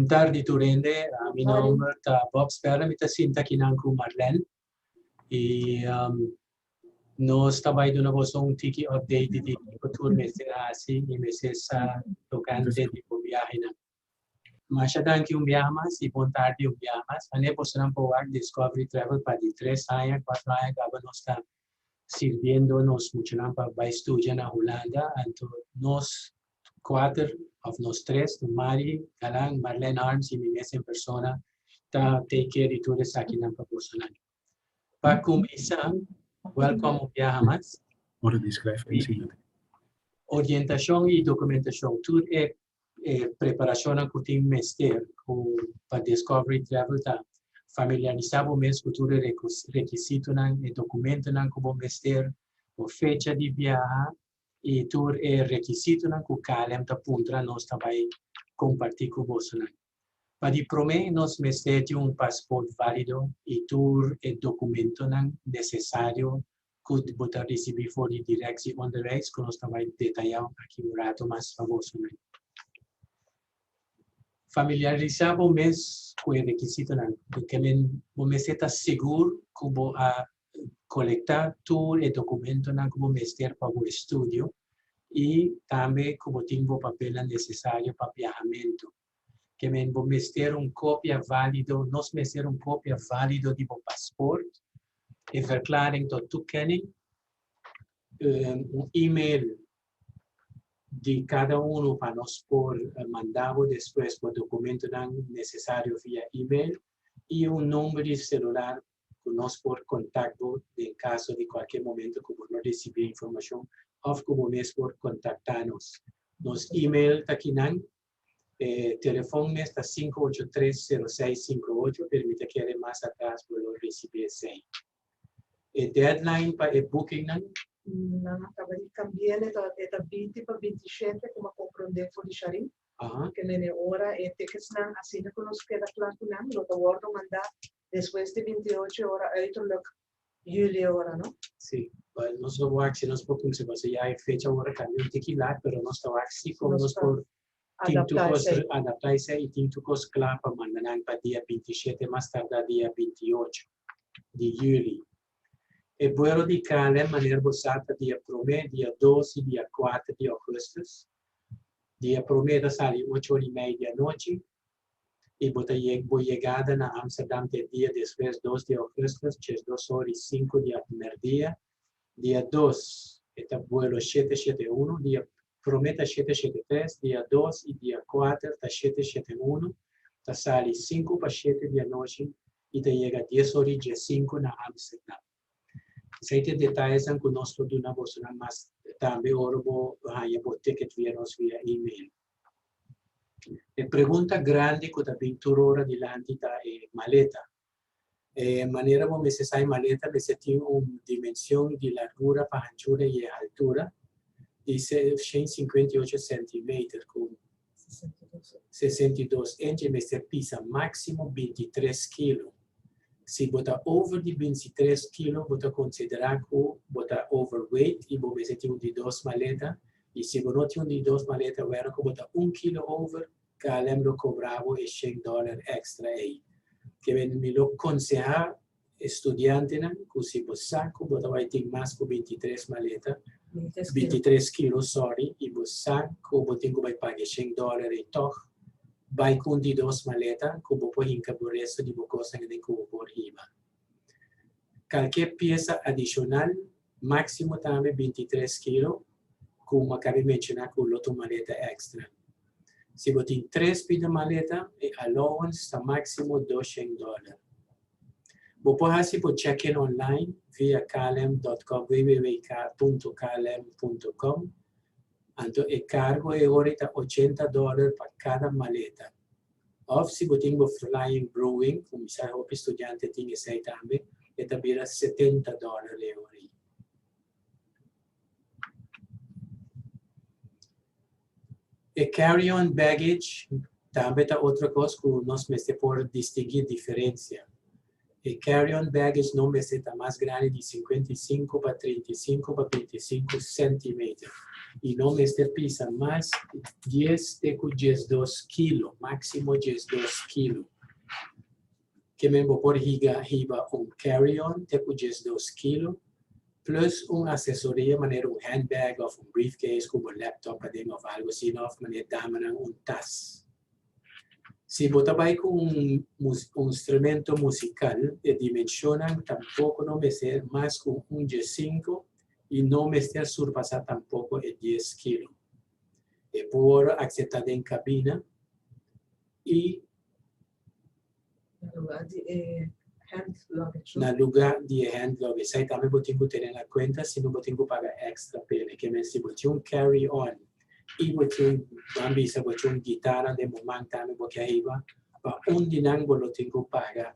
Bon tardi tur hende, mi nomber ta Bob Sperra, mi ta sinta akinan ku Marlene i nos ta bai duna boso un tiki update di kiko tur mester hasi i mester sa tokante di bo biahenan. Masha danki un biaha mas y bon tardi un biaha mas. Wanneer bosonan por wak Discovery Travel pa di tres haña, cuatro haña caba nos ta sirbiendo nos muchanan pa bay studia na Hulanda. Anto nos cuater of nos tres, cu Mari, Galan, Marlene Arms y mi mes en persona ta take care di tur esakinan pa bosonan. Pa cuminsa, welcome un biaha mas. Orientacion y documentacion. Tur e e preparashonnan ku tin mester ku pa Discovery Travel ta familiarisá bo mes ku tur e rekisitonan, e dokumentonan ku bo mester, bo fecha di biaha i tur e rekisitonan ku KLM ta puntra nos ta bai kompartí ku bosonan. Pa di promé nos mester tin un pasport válido i tur e dokumentonan nesesario ku bo ta risibí for di Direksie Onderwijs ku nos ta bai detayau aki un rato mas fabó su nan familiarisá bo mes ku e rekisitonan, bo mester ta sigur ku bo a colecta tur e documentonan cu bo mester pa bo estudio y tambe cu bo tin bo papelnan necesario pa biahamento. Kemen bo mester un copia valido, nos mester un copia valido di bo paspoort, e verklaring tot toekenning, un email di cada uno pa nos por manda bo despues bo documentonan necesario via email y un nomber di celular ku nos por kontak bo den kaso di kualke momento ku bo no resibí e informashon òf ku bo mes por kontaktá nos. Nos email ta kinan, e telefòn mes ta sinku ocho tres, sero seis sinku ocho, pero mi ta kere mas atras bo lo resibí esei. E deadline pa e bookingnan. Nan a kaba di kambi'é, e ta e ta binti pa binti shete kuma komprondé for di Shari. Ke mene ora e tekestnan asina ku nos keda kla ku nan lo ta wòrdu mandá Despues di binti ocho ora uiterlijk juli ora no? Sí, but nos lo wak si nos por kumsa paso ya e fecha ora ta un tiki lat pero nos ta wak si como nos por tin tur cos adapta esey y tin tur cos cla pa manda nan pa dia binti shete mas tarda dia binti ocho di juli. E buelo di KLM manera bo sa ta dia prome, dia dos y dia kuater di augustus. Dia prome ta sali ocho ora y mei di anochi i bo ta yeg bo yegada na Amsterdam te dia despues dos di augustus, tjes dos ora i sinku di aprimerdia. Dia dos e ta buelo shete shete unu, dia prome ta shete shete tres, dia dos i dia kuater ta shete shete unu, ta sali sinku pa shete di anochi i ta yega dies ora i djesinku na Amsterdam. Esei ta e detayenan ku nos por duna bosonan mas tarde ora bo haña bo ticket via nos via email. E pregunta grandi ku ta bin tur ora dilanti ta e maleta. E manera bo mester sa e maleta mester tin un dimension di largura pa hanchura i e haltura di seiscientos y cincuenta y ocho centimeter ku Sesenta i dos enchi mester pisa máksimo binti tres kilo. Si bo ta over di binti tres kilo bo ta konsiderá ku bo ta overweight i bo mester tin un di dos maleta. I si bo no tin un di dos maleta wèra ku bo ta un kilo over, KLM lo kobra bo e shen dòler èkstra ei. Ke men mi lo konsehá E studiantenan cu si bo sa cu bo ta bay tin mas cu bintitres maleta, bintitres kilo, sorry, y bo sa cu bo tin cu bay page shen dollar ey tog, bay cun di dos maleta cu bo por hinca bo resto di bo cosnan den cubo por hiba. Calkier pieza adicional Maximo tambe binti tres kilo ku Makabe menshoná ku lo tuma maleta èkstra. Si bo tin tres pida maleta, e allowance ta máksimo dos shèn dòler. Bo por hasi bo check-in online via klm dòt kòm, wwk punto klm punto kòm, anto e kargo e ora ta ochenta dòler pa kada maleta. Of si bo tin bo Flying Brewing, ku mester hopi studiante tin esei tambe, e ta bira setenta dòler e ora ei. E carry-on baggage tambe ta otro kos ku nos mester por distinguí diferensia. E carry-on baggage no mester ta mas grandi di sinkuenta i sinku pa trinta i sinku pa binti i sinku sentimeter i no mester pisa mas dies te ku diesdos kilo, máksimo diesdos kilo. Kimin bo por higa hiba un carry-on te ku diesdos kilo plus un aksesoria manera un handbag òf un briefcase ku bo laptop aden òf algu asina òf manera damanan un tas. Si bo ta bai ku un instrumento musikal, e dimenshonnan tampoko no mester mas ku un dje sinku i no mester surpasá tampoko e dies kilo. E por akseptá den kabina i. Na lugar di e hand luggage. Na lugar di e hand luggage. Esai tambe bo tin cu tene na cuenta si no bo tin cu paga extra p'e. Na ke mes si bo tin un carry on y bo tin, ban bisa bo tin un guitarra den bo man tambe bo ke hiba pa un di nan bo lo tin cu paga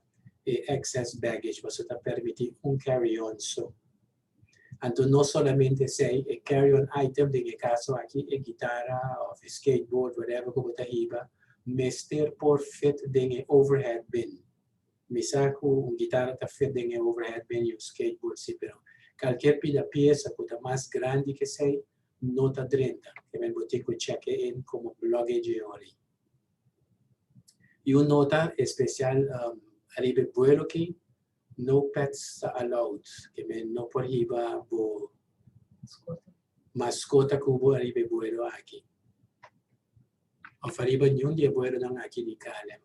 e excess baggage paso ta permiti un carry on so. Anto no solamente esei, e carry on item, den e caso aki e guitarra of e skateboard, whatever cu bo ta hiba, mester por fit den e overhead bin. Mi sa cu un guitarra ta fit den e overhead bin y un skateboard si, pero calkier pida pieza cu ta mas grandi que esei no ta drenta, kib'en bo tin cu checke in como luggage e ora y. Y un nota especial, um, ariba e buelo ki, No pets ta allowed, ke men no por hiba bo maskota ku bo ariba e buelo aki òf ariba niun di e buelonan aki di KLM.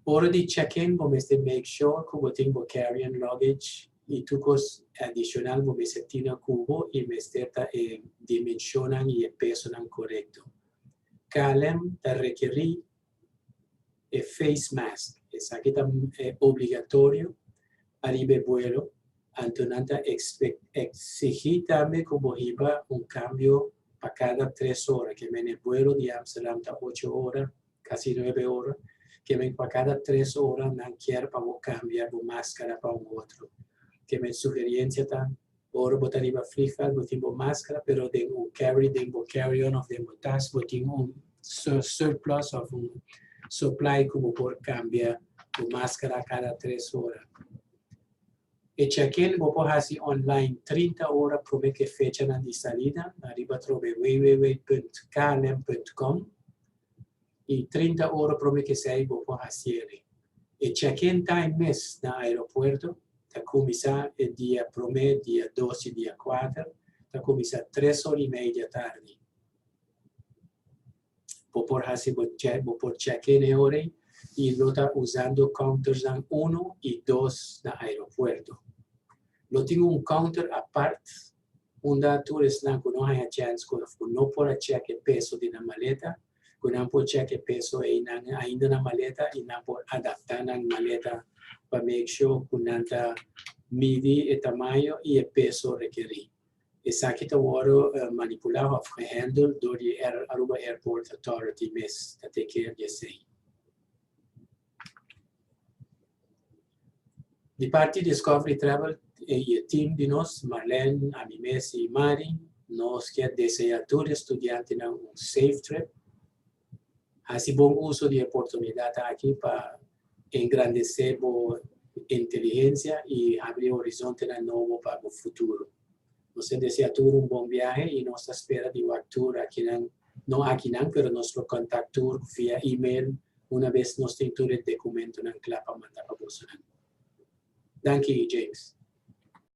Ora di check in bo mester make sure ku bo tin bo carry on luggage i tur kos adishonal bo mester tino ku bo i mester ta e dimenshonnan i e pesonan korekto. KLM ta rekerí e face mask, esaki ta obligatorio ariba e buelo, anto nan ta exigi tambe cu bo hiba un cambio pa cada tres ora, ke men e buelo di Amsterdam ta ocho ora, casi nuebe ora, ke men pa cada tres ora nan kier pa bo cambia bo maskara pa un otro, ke men sugeriencia ta Ora bo ta riba frijal bo tin bo maskara pero den un carry den bo carry on of den bo tas bo tin un surplus of un supply ku bo por kambia bo maskara kada tres ora. E check-in bo por hasi online trinta ora prome ku e fechanan di salida ariba trobe www punt klm punt com i trinta ora prome ku esei bo por hasieri. E check-in time mes na aeropuerto ta kuminsá e dia promé, dia dos i dia kuater, ta kuminsá tres ora i media tardi. Bo por hasi bo check, bo por check-in e ora ei i lo ta usando countersnan uno i dos na aeropuerto. Lo tin un counter apart unda tur esnan ku no haña chèns ku no por a check e peso di nan maleta cu nan por check e peso eynan ainda na maleta y nan por adapta nan maleta pa make sure cu nan ta midi e tamaño y e peso rekeri. Esaki ta worde manipula of gehandle door di Aruba Airport Authority mes, ta take care di esey. Di parti Discovery Travel y e team di nos, Marlene, ami mes y Mari, nos kier desea tur e studiantenan un safe trip. Hasi bon uso di e oportunidad aki pa engrandece bo inteligencia y habri horizontenan nobo pa bo futuro. Nos ta desea tur un bon biahe y nos ta spera di wak tur akinan, no akinan pero nos lo contact tur via email una bes nos tin tur e decumentonan cla pa manda pa bosonan. Danki, James.